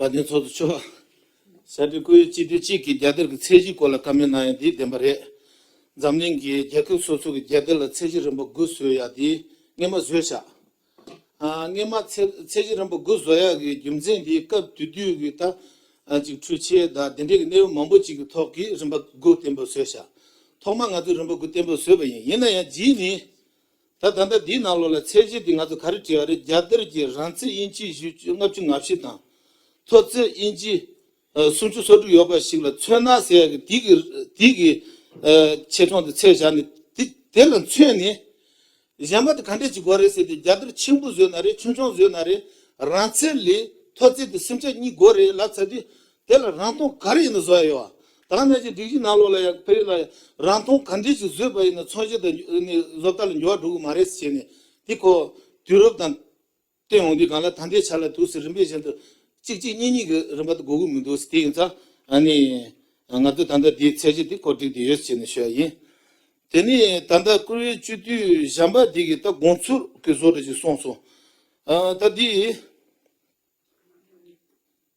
བ་དན་ཚོགས་འདུ་ཆོག། གསར་འགྱུར་བཀོད་ཡུལ་སྤྱི་ཐུས་གཅིག་གིས་རྒྱ་གཏེར་གྱི་ཚད་གཞིའི་སྐོར་ལ་བཀའ་མོལ་གནང་ཡ་འདི་བདེན་པ་རེད། འཛམ་གླིང་གི་རྒྱལ་ཁབ་སོ་སོ་གི་རྒྱལ་གཏེར་ལ་ཚད་གཞི་རིམ་པ་དགུ་བཟོས་ཡ་འདི་སྔས་མ་བཟོས་ཤག་སྔས་མ་ཚད་གཞི་རིམ་པ་དགུ་བཟོ་ཡ་གི་རྒྱུ་མཚན་འདི་སྐབས་དུས་དུས་གི་ད་ཅིག་འཕྲུལ་ཆས་ད་དེ་འདྲས་གི་གནས་བབ་མང་པོ་ཅིག་གི་ཐོག་གི་རིམ་པ་དགུ་གཏན་འབེབས་བཟོས་ཤག་ཐོག་མ་ང་ཚོས་རིམ་པ་དགུ་གཏན་འབེབས་བཟོས་པ་ཡིན་ཡིན་ན་ཡང་རྗེས་ནས་ད་ད་ལྟ་འདིའི་ནང་ལོགས་ལ་ཚད་གཞི་འདི་ང་ཚོ་ག་རེ་བྲིས་པ་རེད་རྒྱ་གཏེར་གྱི་རང་ཚིག་དབྱིན་ཇི་བཞི་བཅུ་ལྔ་བཅུ་ང་བཞི་དང། ཐོ་ཚིག་དབྱིན་ཇི་སུམ་ཅུ་སོ་དྲུག་ཡོད་པ་ཞིག་ལ་མཚོན་ན་ཟེར་ཡག་གི་འདི་གི་འདི་གི་ཆེ་ཆུང་དེ་ཚད་བཞག་ནས་དེ་དེ་ལ་མཚོན་ནས། གཞན་པ་དེ་ག་འདྲས་བྱེད་དགོས་རེད་ཟེར་ཏེ་རྒྱ་གཏེར་ཆེན་པོ་བཟོས་ན་རེད་ཆུང་ཆུང་བཟོས་ན་རེད་རང་ཚིག་ལས་ཐོ་ཚིག་དེ་སུམ་ཆ་གཉིས་དགོས་རེད་ལབ་ཚ་དུས་དེ་ལ་རང་མཐོང་ག་རེ་ཡིན་ནི་བཟོ་ཡ་ཡོད་ཨ། དྭངས་གནས་ཀྱི་སྒྲིག་གཞི་ནང་ལོགས་ལ་ཡང་ཕེབས་ཡོད་ན་ཡང་རང་མཐོང་ག་འདྲས་ཞིག་བཟོས་པ་ཡིན་ནི་མཚོན་བྱེད་དང་བཟོ་ལྟ་ལ་འགྱུར་བ་འགྲོ་གི་མ་རེད་ཟེར་ནས་དེ་ཁོ་དུས་རབས་དང་བསྟུན་འོང་དུས་གང་ལ་ད་འདྲའི་ཆ་ལ་དུས་སུ་རིམ་པས་གཞན་དུ་གཅིག་གཅིག་གཉིས་གཉིས་ཀྱི་རིམ་པ་དུ་འགོ་གི་མི་འདུག་ཟེར་དེ་ཡིན་ཙང་ང་ཚོས་ད་ལྟ་དེའི་ཚད་གཞི་དེ་གོ་སྒྲིག་བསྡད་ཡོད་ཟེར་ནས་ཤོད་ཡ་ཡིན། དེ་ནས་ད་ལྟ་བཀུར་འོས་སྤྱི་འཐུས་གཞན་པ་དེ་གིས་ད་དགོངས་ཚུལ་གྱི་བཟོ་གྲྭ་ཞིག་གསུངས་སོང། ད་དེའི།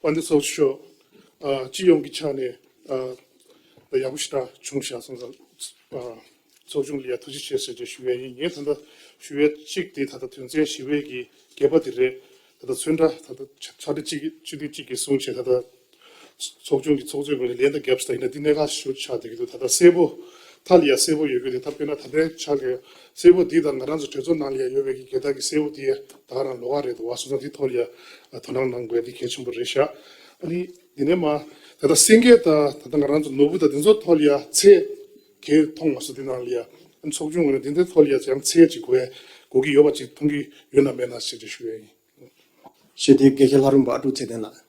པ་འདི་སོགས་ཤོག་སྤྱི་ཡོངས་ཀྱི་ཆ་ནས་ཡག་པོ་ཞིག་ད་བྱུང་བཞག་སོང་ཙང་ཚོགས་ཆུང་ལ་ཡང་ཐུགས་རྗེ་ཆེ་ཟེར་རྒྱུ་ཞུ་ཡས་ཡིན་ངས་ད་ལྟ་ཞུ་ཡས་གཅིག་དེ་ད་ལྟ་དོན་ཚན་བཞི་བའི་གི་གད་པ་དེ་རེད་ད་ལྟ་ཚོན་ཁྲ་ད་ལྟ་ཆ་འདི་གཅིག་གཅིག་དུས་གཅིག་གི་གསུང་བྱས་ད་ལྟ་ཚོགས་ཆུང་གི་ཚོགས་གཙོའི་ངོས་ནས་ལན་དང་རྒྱབ་སྐྱོར་དང་ཡིན་ན་འདི་གནད་འགག་ཞུ་ཆགས་བསྡད་ཀྱི་འདུག་ད་ལྟ་གསལ་པོ་མཐའ་ལ་ཡ་གསལ་པོ་ཡོད་རྒྱུ་དེ་ད་དཔེར་ན་ད་ལན་ཆགས་ཀྱི་གསལ་པོ་འདི་དང་ང་རང་ཚོ་གྲོས་ཚོགས་ནང་ལ་ཡ་ཡོད་བས་ཀྱི་འགལ་ཟླ་གི་གསལ་པོ་འདི་ཡ་དག་རང་ལོག་ག་རེད་འདུག་བ་སོང་ཙང་འདི་ཐོག་ལ་ཡ་དོ་སྣང་གནང་དགོས་འདི་གལ་ཆེན་པོ་རེད་ཤག་ཨ་ནི་འདི་ནས་མ་ད་ལྟ་སེང་གེ་དང་ད་ལྟ་ང་རང་ཚོ་ནོར་བུ་དང་འདི་ཚོ་ཐོག་ལ་ཡ་ཚད་གལ་མཐོང་མ་སོང་འདི་ནང་ལ་ཡ་ཨ་ནི་ཚོགས་ཆུང་ངོས་ནས་འདི་འདི་ཐོག་ལ་ཡ་ཡང་ཚད་ཅིག་གོ་གོ་གི་ཡོད་པ་ཅིག་མཐོང་གི་ཡོད་ན་མེད་ན་ཞེས་འདྲི་ཞུ་ཡ་ཡིན། ཤེས་ལྡན་སྐད་ཆ་ལྷ་རིན་པོ་ཨ་ཀྲུག་ཚེ་བརྟན་ལགས།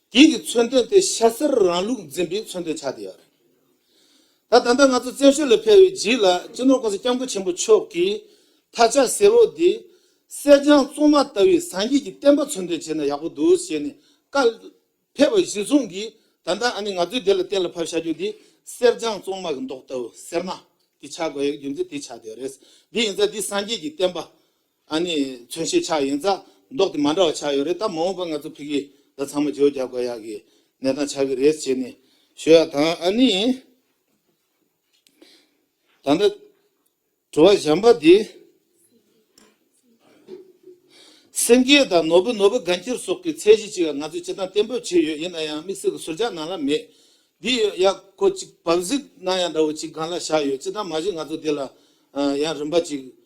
དེའི་གི་མཚོན་དོན་དེ་ཤ་གསེར་རང་ལུགས་འཛིན་པའི་མཚོན་དོན་ཆགས་བསྡད་ཡོད་རེད། ད་ད་ལྟ་ང་ཚོ་བཙན་བྱོལ་ལ་ཕེབས་པའི་རྗེས་ལ་སྤྱི་ནོར་ཀུང་སི་སྐྱབས་མགོན་ཆེན་པོ་མཆོག་གིས་ཐ་ཆ་གསལ་བོ་དེ། གསེར་སྦྱངས་བཙོང་མ་ལྟ་བུའི་བཟང་སྐྱིད་ཀྱི་བསྟན་པ་མཚོན་དོན་བྱས་ན་ཡག་པོ་འདུག་ཞེས་ནས་བཀའ་ཕེབས་པ་གཞི་བཟུང་གིས་ད་ལྟ་ཨ་ནི་ང་ཚོའི་སྡེ་ལ་གཏན་ལ་ཕབ་བྱ་རྒྱུ་དེ་གསེར་སྦྱངས་བཙོང་མ་གི་མདོག་ལྟ་བུ་སེར་མ་དེ་ཆགས་དགོས་ཡག་རྒྱུ་མཚན་དེ་ཆགས་བསྡད་ཡོད་རེད། དེ་ཡིན་ཚ་འདི་བཟང་སྐྱིད་ཀྱི་བསྟན་པ། ད་ནི་མཚོན་བྱེད་ཆགས་ཡིན་ཙང་མདོག་དེ་མ་འདྲ་བ་ཆགས་ཡོད་རེད་ད་མ་འོངས་པར་ང་ཚོ་ཕི་གིས་ད་ཚང་མ་བརྗོད་རྒྱག་དགོས་ཡག་གི་གནས་སྟངས་ཆགས་གི་རེད་བྱས་ནས་ཞུ་ཡག་དང་ཨ་ནི། ད་ལྟ་བྲོ་བ་བཞམས་པ་དེ། སེང་གེ་དང་ནོར་བུ་ནོར་བུ་དགའ་འཁྱིལ་སོགས་ཀྱི་ཚད་གཞི་ཅིག་ང་ཚོས་བྱེད་སྟངས་བརྟན་པོ་བྱས་ཡོད་ཡིན་ན་ཡང་དམིགས་བསལ་གྱི་ཟུར་ཆག་ནང་ལ་མེད། འདི་ཡོད་ཡག་གོ་ཅིག་བབས་གཟིགས་གནང་ཡག་འདྲ་བོ་ཅིག་སྒང་ལ་བཞག་ཡོད་ཅི་ཐང་མ་གཞི་ང་ཚོ་འདི་ལ་ཡང་རིམ་པ་ཅིག་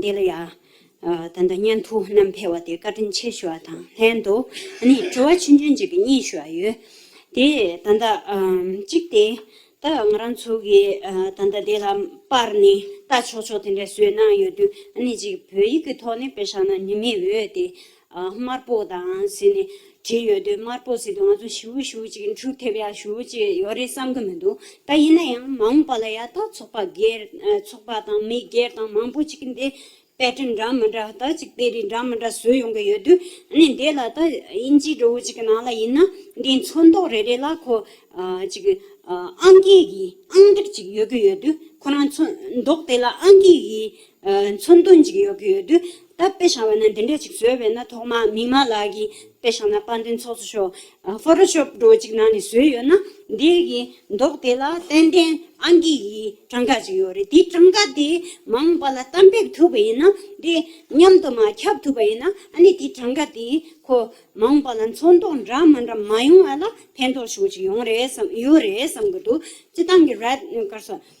འདི་ལ་ཡང་ད་ལྟ་སྙན་ཐོ་རྣམས་ཕེལ་བ་དེ་བཀའ་དྲིན་ཆེ་ཞུ་བ་དང་ལྷན་དུ་དྲི་བ་ཆུང་ཆུང་གཅིག་གི་གཉིས་ཞུ་བ་ཡོད་དེ། ད་ལྟ་གཅིག་དེ་ད་ང་རང་ཚོ་གི་ད་ལྟ་དེ་ལ་པར་ནས་ལྟ་ཆོག་ཆོག་དེ་འདྲ་བཟོས་གནང་ཡོད་དུས་གཅིག་བོད་ཡིག་གི་ཐོག་ནས་དཔེ་ཞག་ན་ནི་མི་འོས་ཏེ། དམར་པོ་དང་ཟེར་ནས་བྲིས་ཡོད་དུས་དམར་པོ་ཟེར་དུས་ང་ཚོ་ཞུ་ཞུ་ཅིག་འཕྲུག་ཐེབས་ཡག་ཞུ་ཅིག་ཡོད་རེད་བསམ་གི་མི་འདུག་ད་ཡིན་ན་ཡང་མ་འོངས་པ་ལ་ཡག་ཐག་ཚོགས་པ་སྒེར་ཚོགས་པ་དང་མི་སྒེར་དང་མང་པོ་ཅིག་འདི pattern འདྲ་མི་འདྲ་དག་ཅིག་དེ་རིགས་འདྲ་མི་འདྲ་བཟོས་ཡོང་གི་ཡོད་དུས་ཨནི་འདི་ལ་ད་དབྱིན་ཇིའི་འགྲོ་བོ་ཅིག་གི་ནང་ལ་ཡིན་ན་འདིའི་མཚོན་མདོག་རེ་རེ་ལ་ཁོ་ཅིག་ཨང་ཀིའི་གིས་ཨང་སྒྲིག་ཅིག་ཡོད་གི་ཡོད་དུས་ཁོ་རང་མཚོན་མདོག་དེ་ལ་ཨང་ཀིའི་གིས་མཚོན་དོན་གཅིག་ཡོད་ཀྱི་ཡོད་དུས་ད་དཔེ་བྱང་བ་ན་འདི་འདྲ་གཅིག་བཟོས་བས་ན་ཐོག་མ་མིག་མ་ལགས་ཀྱི་དཔེ་བྱང་ན་དཔར་འདོན་ཚོགས་སུ་ཤོག Photoshop འགྲོ་གཅིག་ནང་ནས་བཟོས་ཡོད་ན་འདི་གི་མདོག་དེ་ལ་ཏན་ཏན་ཨང་ཀི་ཡི་གྲངས་ཀ་གཅིག་ཡོད་རེད་དེ་གྲངས་ཀ་དེ་མ་འོངས་པ་ལ་གཏམ་ཕེབས་ཐུབ་པ་ཡིན་ན་དེ་མཉམ་དུ་མ་ཁྱབ་ཐུབ་པ་ཡིན་ན་ནི་དེ་གྲངས་ཀ་དེ་ཁོ་མ་འོངས་པ་ལ་མཚོན་དོག་འདྲ་མ་འདྲ་མ་ཡོང་བ་ལ་ཕན་ཐོགས་ཤོག་གཅིག་ཡོང་རེད་བསམ་ཡོད་རེད་བསམ་གྱི་འདུག་སྤྱི་བཏང་གི་རེད་དཀར་སོགས།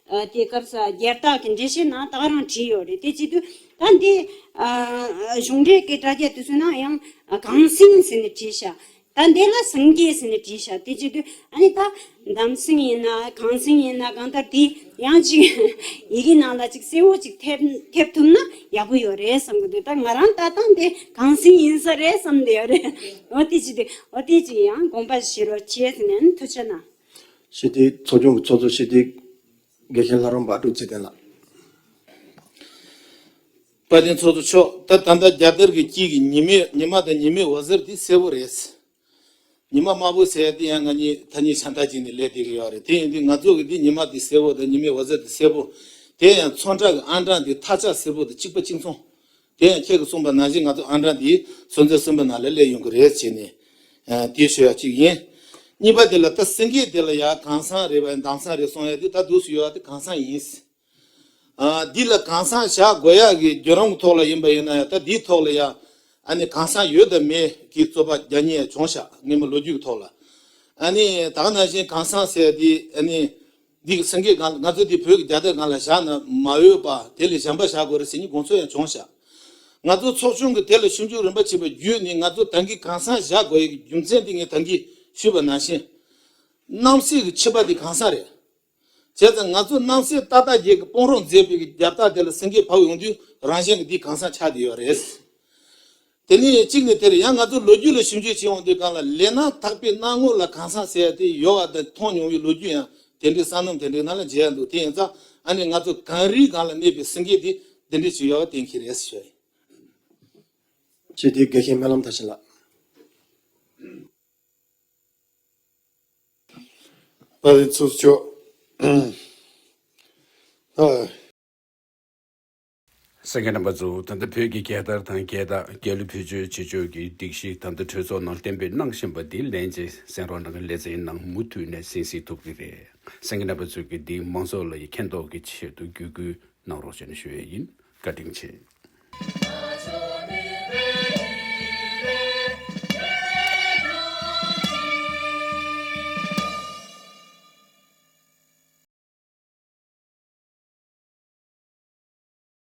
དེ་སྐབས་སྒེར་བདག་གི་འགྲེལ་བཤད་ནང་དག་རང་བྲིས་ཡོད་རེད་དེ་གཅིག་དུས་ད་འདི་གཞུང་འབྲེལ་གྱི་དྲ་རྒྱ་དུ་སོན་ན་ཡང་གངས་སེང་ཟེར་ནས་བྲིས་ཤག་ད་འདི་ལ་སངས་རྒྱས་ཟེར་ནས་བྲིས་ཤག་དེ་གཅིག་དུས་ཨ་ནི་ད་འདམ་སེང་ཡིན་ན་གངས་སེང་ཡིན་ན་གང་ལྟར་དེ་ཡང་གཅིག་ཡི་གེ་ནང་ལ་གཅིག་གསལ་བོ་གཅིག་ཐེབས་ཐུབ་ན་ཡག་པོ་ཡོད་རེད་བསམ་གི་འདུག་ད་ང་རང་ལྟ་སྟངས་དེ་གངས་སེང་ཡིན་ས་རེད་བསམ་གི་ཡོད་རེད་འོ་དེ་གཅིག་དུས་འོ་དེ་གཅིག་ཡང་དགོངས་པ་བཞེས་རོགས་གྱིས་ཟེར་ནས་ཐུགས་ཆེ་གནང། ཞི་བདེའི་ཚོགས་ཆུང་གི་ཚོགས་གཙོ་ཞི་བདེའི་དགེ་རྒན་ལྷ་རམས་པ་སྒྲུབ་ཚེ་བརྟན་ལགས། བཀའ་བསྟན་ཚོགས་གཙོ་མཆོག་ད་ལྟ་ད་རྒྱ་དར་གྱི་དཀྱིལ་གྱི་ཉི་མའི་ཉི་མ་དང་ཉི་མའི་འོད་ཟེར་དེ་གསལ་བོ་རེད། ཉི་མ་དམར་པོ་ཟེར་དེ་ཡང་ང་གཉིས་ཐ་སྙད་ཆ་འདྲ་གཅིག་ནས་ལས་བསྡད་ཀྱི་ཡོད་རེད་དེ་ཡིན་དུས་ང་ཚོ་གི་དེ་ཉི་མ་དེ་གསལ་བོ་དང་ཉི་མའི་འོད་ཟེར་དེ་གསལ་བོ་དེ་ཡང་ཚོང་དྲག་གི་ཨང་གྲངས་དེ་ཐག་ཆག་སེར་པོ་དང་གཅིག་པ་གཅིག་མཚུངས་དེ་ཡང་ཁྱེད་ཀྱིས་གསུངས་པ་ན་གཞི་ང་ཚོ་ཨ་མྲ་འདིའི་སོན་རྩ་སྲིན་པོ་ནང་ལས་སླེབས་ཡོང་གི་རེད་ཅེས་ནས། དེའི་ཤོད་ཡ་གཅིག་ཡིན། གཉིས་པ་དེ་ལ་ད་སེང་གེ་དེ་ལ་ཡ་གང་སང་རེད་བ་ཡ་འདང་སང་རེད་སོང་ཡ་དེ་ད་དུས་སུ་ཡོད་བ་དེ་གང་སང་ཡིན། འདི་ལ་གང་སང་བྱ་དགོས་ཡ་གི་རྒྱུ་རང་གི་ཐོག་ལ་ཡིན་བ་ཡིན་ན་ཡ་ད་དེའི་ཐོག་ལ་ཡ་ཨ་ནི་གང་སང་ཡོད་དམ་མེད་གི་རྩོད་པ་རྒྱ་ཉེ་ཡ་བྱུང་ཤག་ངེད་མོ་ལོ་རྒྱུས་གི་ཐོག་ལ་ཨ་ནི་དག་ན་བཞིན་གང་སང་ཟེར་ཡ་དེ་ཨ་ནི། འདི་གི་སེང་གེའི་སྒང་ལ་ང་ཚོ་འདི་བོད་ཀྱི་རྒྱ་སྟག་སྒང་ལ་བཞག་ན་མ་འོས་པ་དེ་ལས་གཞན་པ་བཞག་དགོས་རེད་ཟེར་གྱི་དགོངས་ཚུལ་ཡང་བྱུང་བཞག་ང་ཚོ་ཚོགས་ཆུང་གི་དེ་ལ་ཞིབ་འཇུག་རིམ་པ་བྱས་པ་བརྒྱུད་ནས་ང་ཚོ་ཏང་གིས་གང་ཟག་བཞག་དགོས་ཡོད་ཀྱི་རྒྱུ་མཚན་དེ་ངས་ཏང་གིས་ཞུས་པ་ནང་བཞིན། རྣམ་སྲས་ཀྱི་ཆིབས་པ་དེ་གང་ཟག་རེད། བྱས་ཙང་ང་ཚོ་རྣམ་སྲས་ཏག་ཏག་རྒྱལ་གྱི་དཔུང་རོགས་མཛད་སྤེལ་གྱི་རྒྱ་སྟག་དེ་ལ་སེང་གེ་བབས་ཡོང་དུས་རང་གཞན་གྱི་འདི་གང་ཟག་ཆགས་བསྡད་ཡོད་རེད། དེ་ནི་གཅིག་ནས་དེར་ཡང་ང་ཚོ་ལོ་རྒྱུས་ལ་ཞིབ་འཇུག་བྱེད་འོང་དུས་གང་ལ་ལས་ན་ཐག་པའི་སྣང་ངོར་ལ་གང་ཟག་ཟེར་ཡ་དེ་ཡོད་བ་དང་མཐོང་མྱོང་བའི་ལོ་རྒྱུས་ཡང་དེ་འདྲའི་བསམ་ནམ་དེ་འདྲའི་ནང་ལ་མཇལ་ཡ་འདུག་དེ་ཡིན་ཙང་ཨ་ནི་ང་ཚོ་གངས་རིའི་སྒང་ལ་གནས་པའི་སེང་གེ་དེ་འདི་འདྲའི་བྱུང་ཡོད་བ་གཏན་འཁེལ་རེད་ཟེར། ཅེས་དེའི་དགེ་རྒན་སྨོན་ལམ་དར་ཆེན་ལགས། ཨ་རིའི་ཚོགས་མཆོག། སེང་གེ་རྣམ་པ་གཙོ་བོ་ད་ལྟ་བོད་ཀྱི་རྒྱལ་དར་དང་རྒྱལ་རྟགས་རྒྱལ་གླུ་བེད་སྤྱོད་བྱེད་སྤྱོད་ཀྱི་སྒྲིག་གཞི་ད་ལྟ་གྲོས་ཚོགས་ནང་གཏན་འབེབས་གནང་བཞིན་པ་འདི་ལན་ཅིག་གསན་རོགས་གནང་ལེ་ཚན་ནང་མུ་མཐུད་ནས་གསན་སྲིད་ཐུབ་ཀྱི་རེད་སེང་གེ་རྣམ་པ་གཙོས་ཀྱི་འདི་མང་ཚོགས་ལ་ཡི་མཁྱེན་རྟོགས་ཀྱི་ཆེད་དུ་བརྒྱུད་སྐུལ་གནང་རོགས་བྱས་ནས་ཞུ་ཡས་ཡིན་བཀའ་དྲིན་ཆེ།